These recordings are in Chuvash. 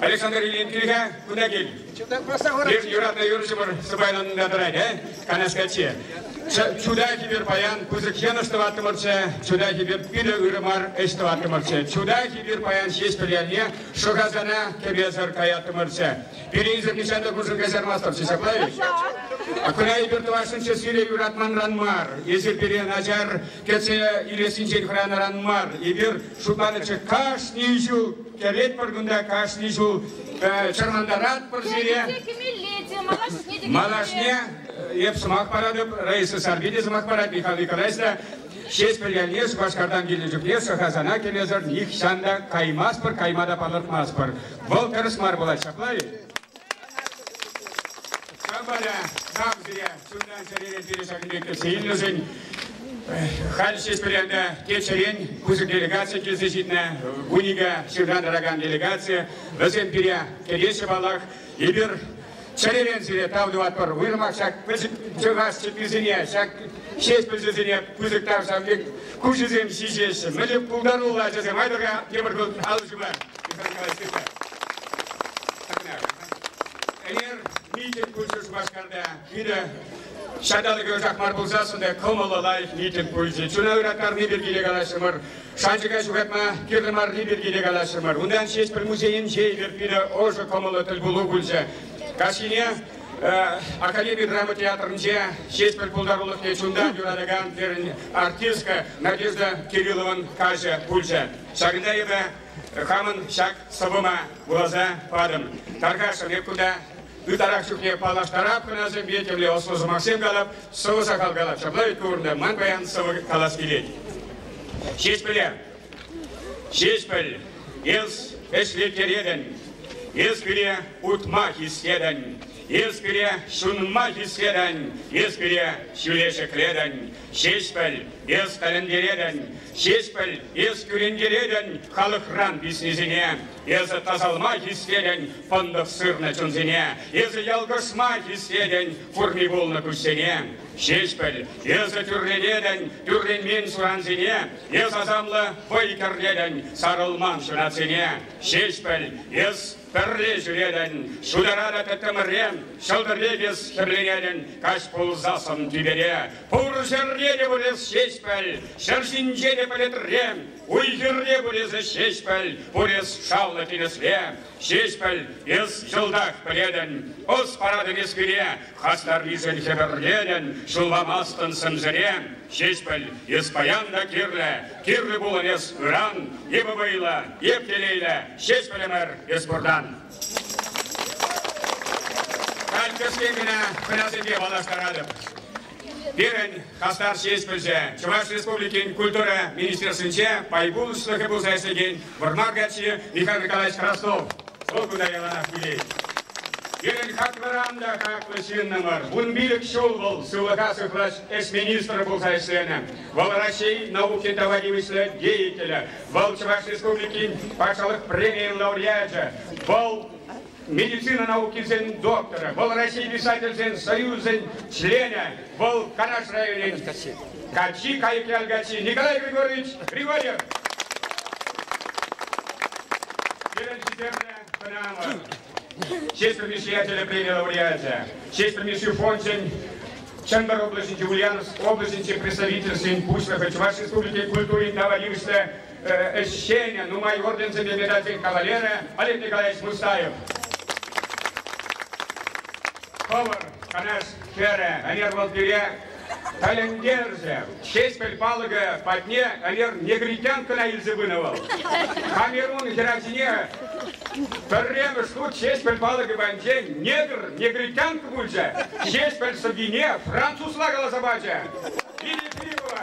Александр Ильин килӗ кунта кил. Эп юратнӑ юрӑҫӑмӑр сӑпайланса тӑрать, э? Канаш каччи. Чуда хибер паян пысӑк йӑнӑш тӑваттӑмӑрччӗ, чуда хибер питӗ ырӑ мар ӗҫ тӑваттӑмӑрччӗ. Чуда хибер паян ҫеҫ пӗлялне шӑхасана кӗпесӗр каяттӑмӑрччӗ. Пирӗнсӗр нихҫан та куршын каҫармастӑрччӗ, ҫапла-и? Акуна эпир тӑвасшӑнччӗ сире юратманран мар, эсир пире начар кӗтсе илессинчен хӑранӑран мар. Эпир шутланӑччӗ кашни ҫул Кӗретпӗр кунта кашни ҫул чӑрмантаратпӑр сире. Малашне эп сӑмах паратӑп, Раиса Сарпи те сӑмах парать, Михаил Николаевич та. Ҫеҫпӗл ялне Шупашкартан килнӗ чухне Сӑхасана кӗмесӗр нихҫан та каймастпӑр, кайма та палӑртмастпӑр. Вӑл тӗрӗс мар пулать, ҫапла-и? Шапара нам пире чунтан чӗререн пирӗн ҫакӑн пек кӗтсе илнӗшӗн халь ҫеҫ пӗрянта теччӗрен пысӑк делегаци килсе ҫитнӗ вунике ҫыртан тӑракан делегаци. Вӗсем пире кӗтеҫҫӗ паллах. Эпир чӗререн сире тав тӑватпӑр. Уйрӑмах ҫак пӗчӗк чӑхас чӗпписене, ҫак ҫеҫ пӗлсесене пысӑк тав ҫав пек куҫӗсем ҫиҫеҫҫӗ. Мӗнле пултаруллӑ ачасем, айтӑрка тепӗр хут алӑ ҫупар. Eğer miting пулчӗ Шупашкарта питӗ ҫанталӑк ӑсах мар пулсассӑн та кӑмӑллӑ лайӑх митинг пулчӗ. Чуна ыраттарни пирки те калаҫрӑмӑр, шанчӑка ҫухатма кирлӗ марри пирки те калаҫрӑмӑр. Унтан ҫеҫ пӗр музейӗнче эпир питӗ ӑшӑ кӑмӑллӑ тӗлпулу пулчӗ. Каҫхине Академи драма театрӗнче ҫеҫ пӗр пултарулӑхне чунтан юратакан пирӗн артистка Надежда Кириллован каҫӗ пулчӗ. Ҫакӑнта эпӗ хамӑн ҫак сӑвӑма вуласа патӑм. Таркашӑн эп кунта ытарах чухне паллаштарап хӑнасемпе темле ӑслӑ сӑмахсем калап, сӑвӑ сахал калап. Ҫапла вӗт курнӑ, ман паян сӑвӑ калас килет. Ҫеҫпӗле, Ҫеҫпӗл, эс ӗҫлеттеретӗн, эс пире утма хистетӗн, эс пире ҫунма хистетӗн, эс пире ҫӳле ҫӗклетӗн, Ҫеҫпӗл, эс тӗлӗнтеретӗн, Ҫеҫпӗл, эс кӳрентеретӗн халӑхран писнисене. Эсӗ тасалма хистетӗн пӑнтӑх сырнӑ чунсене, Эсӗ ялкӑшма хистетӗн фурми пулнӑ куҫсене. Ҫеҫпӗл, эсӗ тӳрленетӗн тӳрленмен сурансене, Эс асамлӑ вӑй кӗртетӗн сарӑлман ҫунатсене. Ҫеҫпӗл, эс Пӗрре ҫӳретӗн, ҫутаратӑп тӗттӗмӗрен, ҫӑлтӑр пек эс хӗрленетӗн каҫ пулсассӑн тӳпере. Пур ҫӗрне те пулес ҫеҫпӗл, ҫӗр ҫинче те пӗлӗтрен, уй-хирне пулесӗ ҫеҫпӗл, пурес шавлӑ тинӗсре. Ҫеҫпӗл, эс йӑлтах пӗлетӗн, ӑс паратӑн эс пире, хастаррисен хӗпӗрлетӗн, ҫулламастӑн сӗмсӗре. Ҫеҫпӗл, эс паян та кирлӗ, кирлӗ пулӑн эс ыран, эпӗ вӑйлӑ, эп телейлӗ, Ҫеҫпӗлӗмӗр эс пуртан. Халь кӗскен кӑна хӑнасемпе паллаштаратӑп. Пирӗн хастар ҫеҫпӗлҫӗ, Чӑваш Республикин Культура министерствинче пай пулӑшлӑхӗ пулса ӗҫлекен Вӑрмар каччи Михаил Николаевич Краснов вӑл кунта яланах вилет. Пирӗн хаклӑран та хаклӑ ҫыннӑмӑр. Вун пилӗк ҫул вӑл сывлӑха сыхлас ӗҫ министрӗ пулса ӗҫленӗ. Вӑл Раҫҫей науки тава тивӗҫлӗ деятелӗ. Вӑл Чӑваш Республикин Патшалӑх премийӗн лауреачӗ. Вӑл медицина наукисен докторӗ, вӑл Раҫҫей писательсен союзӗн членӗ, вӑл Канаш районӗн каччи, Кайӑк ял каччи Николай Григорьевич Григорьев. Пирӗн хисеплӗ канавӑр, честь предприятия премия лауреачӗ, честь Мисси фончӗн Чӑнкӑр облаҫӗнчи Ульяновск облаҫӗнчи представительствин пуҫлӑхӗ, Чӑваш Республикин культурин тава тивӗҫлӗ ӗҫченӗ, нумай орденсемпе медальсем кавалерӗ Олег Николаевич Мустаев. Хӑвӑр канаш хӗрӗ ӗнер вӑл пире тӗлӗнтерчӗ. Ҫеҫпӗл палӑкӗ патне ӗнер негритянкӑна илсе пынӑ вӑл. Камерун хӗрачине пӗрремӗш хут Ҫеҫпӗл палӑкӗ патӗнчен негр, негритянка пулчӗ. Ҫеҫпӗл сӑввине французла каласа пачӗ. Лидия Филиппова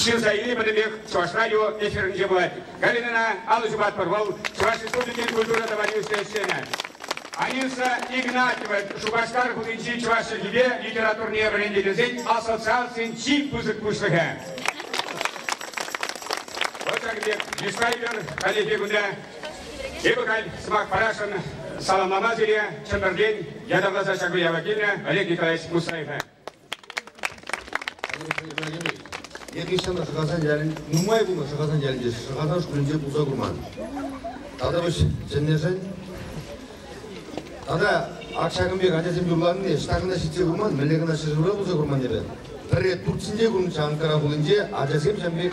ҫын сайри пӗтӗмпех Чӑваш радио эфирӗнче пулать. Галинӑна алӑ ҫупатпӑр, вӑл Чӑваш Республикин культура товарийӗслӗ ӗҫченӗ. Анисса Игнатьева Шупашкар хулинчи чӑваш чӗлхипе литературине вӗрентекенсен ассоциацийӗн чи пысӑк пуҫлӑхӗ. Вӑл ҫакӑн пек йышпа ӳкер каллехи кунта. Эпӗ халь сӑмах парасшӑн саламлама сире Чӗмпӗртен ятарласа ҫак уява килнӗ Олег Николаевич Мусаева. Алексей Ибрагимович, я хресчана Шӑхасан ялӗн, нумай пулнӑ Шӑхасан ялӗнче Шӑхасан шкулӗнче пулса курман. Тата вӗҫ чӗннӗшӗн. Тата ак ҫакӑн пек ачасем юрланине ӑҫта кӑна ҫитсе курман, мӗнле кӑна ҫӗршывра пулса курман эпӗ. Пӗрре Турцинче курнӑччӗ Анкара хулинче ачасем ҫан пек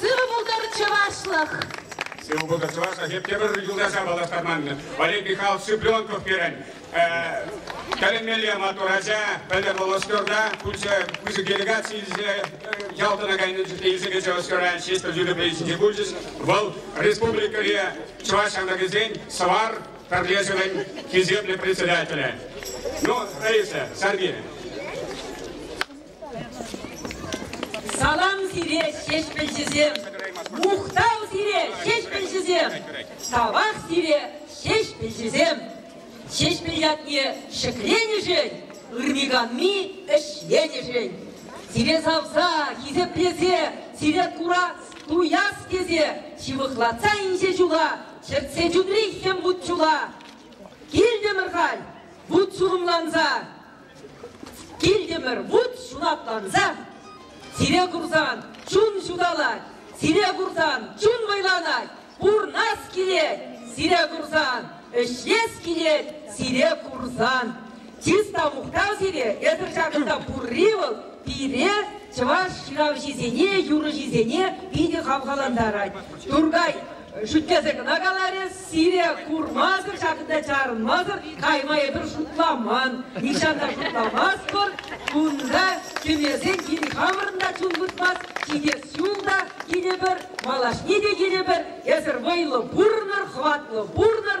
Сывӑ пултӑр, чӑвашлӑх! Сывӑ пултӑр, чӑвашлӑх! Эптӗмӗр юлташа паллаштарманмӗн. Валерий Михайлович Цыпленков пирӗн тӗлӗнмелле маттур ача. Пӗлтӗр вӑл Ӑшкӑрта пысӑк делегаци илсе ял тӑна кайнӑ чухне илсе кӗчӗ Ӑшкӑран Ҫеҫпӗл юрӑ пулчӗ. Вӑл республикӑри чӑваш ҫамрӑкӗсен Сӑвар пӗрлешӗвӗн хисеплӗ председателӗ. Ну, Раиса, Сергей. Салам сире, ҫеҫпӗлҫӗсем! Мухтав сире, ҫеҫпӗлҫӗсем! Савах сире, ҫеҫпӗлҫӗсем! Ҫеҫпӗл ятне ҫӗкленӗшӗн, ырми-канми ӗҫленӗшӗн, сире савса, хисеплесе, сире курас, туяс тесе ҫывӑхлатса инҫе ҫула чӗртсе чунри хӗм вут-ҫула килтӗмӗр халь, вут-ҫулӑмланса. Килтӗмӗр вут ҫунатланса. Сире курсан чун ҫуталать, сире курсан чун вӑйланать. Пурнас килет сире курсан, ӗҫлес килет сире курсан. Чыс та мухтав сире, эсӗр ҫакӑнта пурри вӑл пире, чӑваш ҫыравҫисене, юрӑҫисене питӗ хавхалантарать. Туркай Шӳтлесе кӑна каларӗ, сире курмасӑр, ҫакӑнта чарӑнмасӑр кайма эпир шутламан. Нихҫан та шутламастпӑр. Кунта кӗмесен кин хамӑрӑн та чун выртмасть, ҫитес ҫул та килӗпӗр, малашне те килӗпӗр. Эсӗр вӑйлӑ пурӑнӑр, хӑватлӑ пурӑнӑр.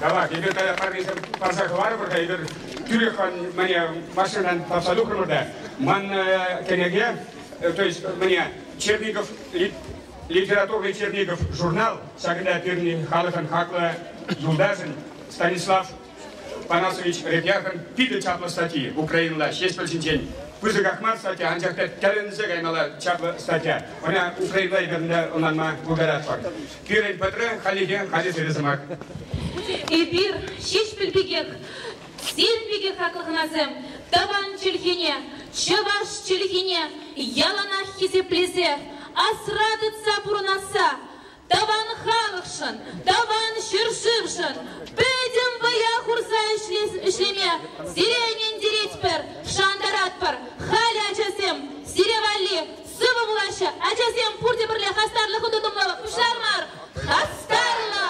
Давай, эпир парнесем парса хӑварӑпӑр-ха, эпир тӳрех мане машинӑран тапса тухрӑмӑр та ман кӗнеке, то есть мне Черников, литературный Черников журнал, ҫакӑнта пирӗн халӑхӑн хаклӑ юлташӗн Станислав Панасович Репьяркӑн питӗ чаплӑ статьи Украинӑла Ҫеҫпӗл ҫинчен. Пысӑках мар статья, анчах та тӗлӗнсе каймалла чаплӑ статья. Ӑна Украинӑла эпир ӑнланма пултаратпӑр. Пирӗн пӗтрӗ хальлӗхе халӗ ҫӗнӗ сӑмах. Эпир, Ҫеҫпӗл пекех, сирӗн пекех хаклӑ хӑнасем, тӑван чӗлхене, чӑваш чӗлхине яланах хисеплесе, асра тытса пурӑнасса, тӑван халӑхшӑн, тӑван ҫӗршывшӑн пӗтӗм вӑя хурса ӗҫлеме сире ӗнентеретпӗр, шантаратпӑр. Халӗ, ачасем, сире валли Сывӑ пулаҫҫӗ ачасем, пурте пӗрле хастарлӑху тытӑмлӑ пуҫлар мар, хастарлӑ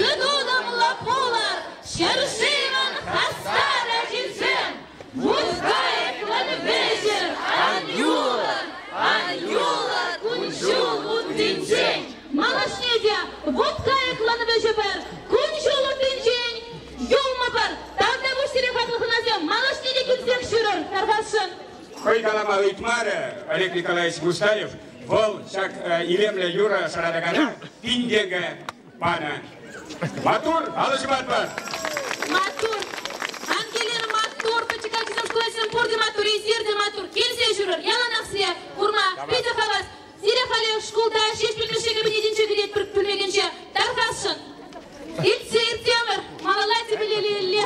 тытӑмлӑ пулӑр! Ҫӗршывӑн хастар ачисем, мужская кладвещер ан юлӑр! Ан юлӑр кун-ҫул уттинчен! Малашне те Вутская кладвещепӗр кун-ҫул уттинчен юлмӑпӑр! Тавтапуҫ сире, хаклӑ хунасем! Малашне те килсех ҫӳрӗр Тархасшӑн! хӑй калама ыйтмарӗ Олег Николаевич Мустаев. Вӑл ҫак илемлӗ юрӑ шӑратакана пин тенкӗ панӑ. Маттур, алӑ ҫупатпӑр. Маттур. Ангелина маттур, пӗчӗк ачисем шкул ачисем пурте маттур, эсир те маттур. Килсе ҫӳрӗр, яланах сире курма питӗ хавас. Сире халӗ шкулта ҫеҫ пӳлмӗше кабинетӗнче кӗретпӗр пӳлмекенче. Тархасшӑн. Иртсе иртемӗр, малалла тӗпелелле.